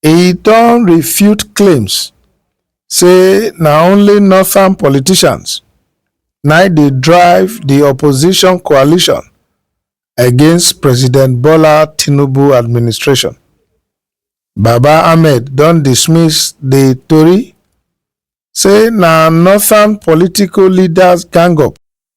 E don refute claims say na only northern politicians na dey drive di opposition coalition against President Bola Tinubu administration. Baba Ahmed don dismiss di tori say na northern political leaders gang up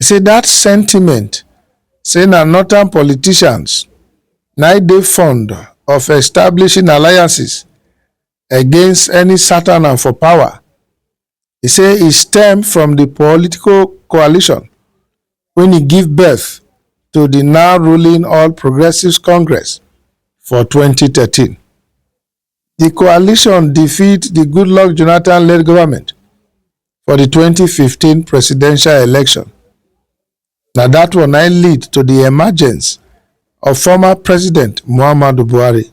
E say dat sentiment say na northern politicians na im dey fond of establishing alliances against any Satana for power. E say e stem from di political coalition wen e give birth to di now ruling All Progressives Congress for twenty thirteen. di coalition defeat di goodluck jonathan-led goment for di 2015 presidential election na dat one na im lead to di emergence of former president muhammadu buhari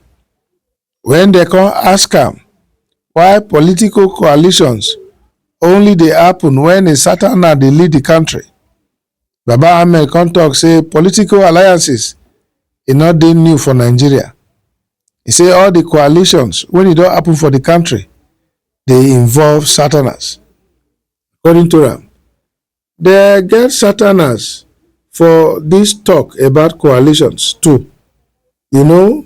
wen dem come ask am why political coalitions only dey happen wen a certain man dey lead di kontri Baba Ahmed come talk say political alliances e no dey new for Nigeria. E say all the coalitions when e don happen for the country dey involve Southerners. According to am, they get Southerners for this talk about coalitions too. You know,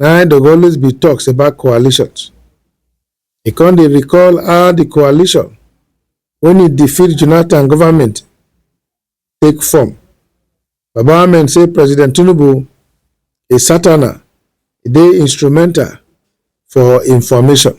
na there go always be talks about coalitions. He come dey recall how the coalition wey he defeat Jonathan government take form. Baba Ahmed say President Tinubu a satana e dey instrumental for information.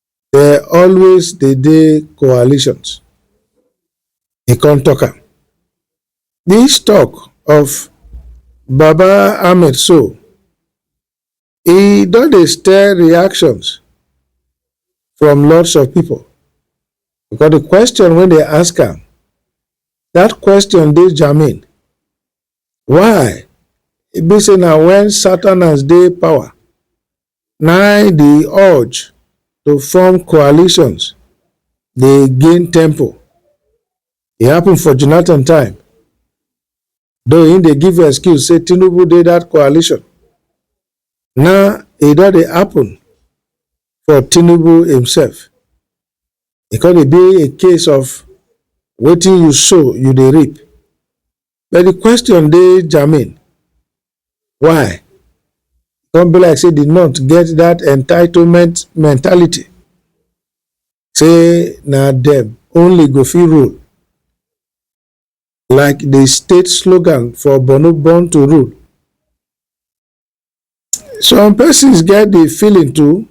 There always dey dey coalitions. He come talk am. This talk of Baba Ahmed so, e don dey stir reactions from lots of people because the question wey dey ask am, that question dey germane. Why e be say na when Southerners dey power na im di urge to form coalitions dey gain tempo. E happen for Jonathan time, though im dey give excuse say Tinubu dey dat coalition, now e don dey happen for Tinubu imsef. E come dey be a case of wetin you sow you dey reap. but the question dey germane why come be like say the north get that entitlement mentality say na dem only go fit rule like the state slogan for borno born to rule some persons get the feeling too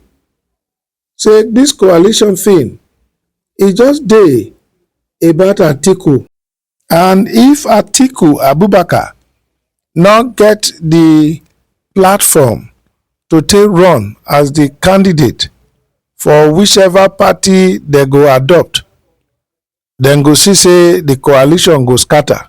say this coalition thing e just dey about Atiku and if Atiku Abubakar no get the platform to take run as the candidate for whichever party they go adopt, then go see say the coalition go scatter.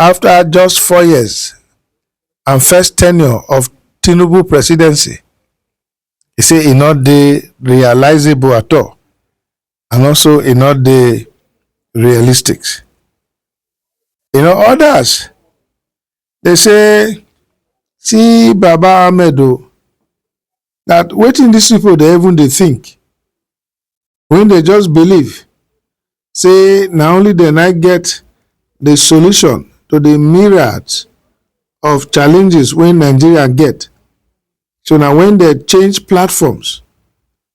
afta just four years and first tenure of tinubu presidency e say e no dey realisable at all and also e no dey realistic you know odas dey say see baba ahmed o dat wetin dis pipo dey even dey think wey dey just believe say na only dem na get the solution to the myriad of challenges wey Nigeria get. So na when dem change platforms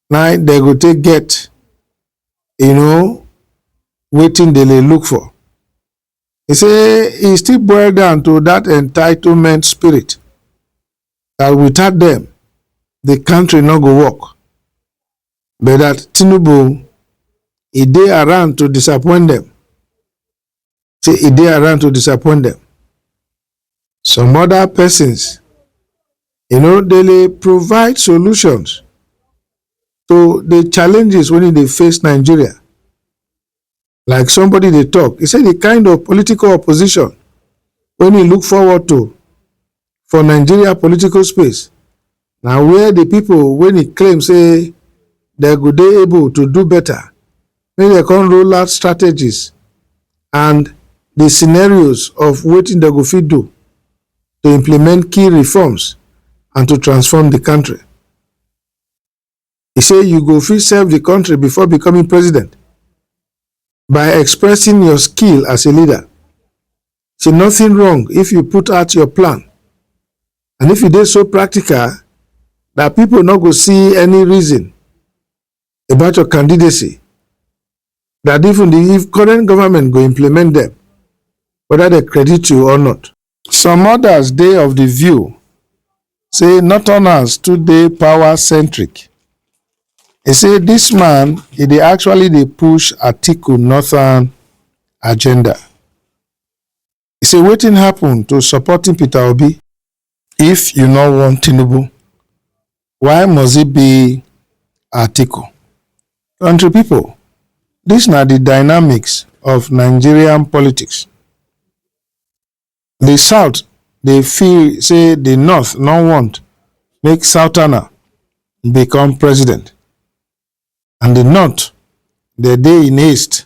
na dem go take get you know wetin dem dey look for. He say e still boil down to that entitlement spirit that without them the country no go work. but that tinubu e dey around to disappoint them say e dey around to disappoint them some other persons you know they dey provide solutions to the challenges wey dey face nigeria like somebody dey talk e say the kind of political opposition wey e look forward to for nigeria political space na where the people wey e claim say dem go dey able to do better make dem come roll out strategies and the scenarios of wetin dem go fit do to implement key reforms and to transform the country. He say you go fit serve the country before becoming president by expressing your skill as a leader. Say nothing wrong if you put out your plan. And if you dey so practical that people no go see any reason about your candidacy, that even the if current government go implement them, whether they credit you or not. Some odas dey of di view say northerners too dey power centric. E say dis man e dey actually dey push Atiku northern agenda. E say wetin happun to supporting Peter Obi? If you no want Tinubu, Why must it be Atiku? Country people, this na the dynamics of Nigerian politics. The South dey feel say the North no want make Southerner become president and the North dey dey in haste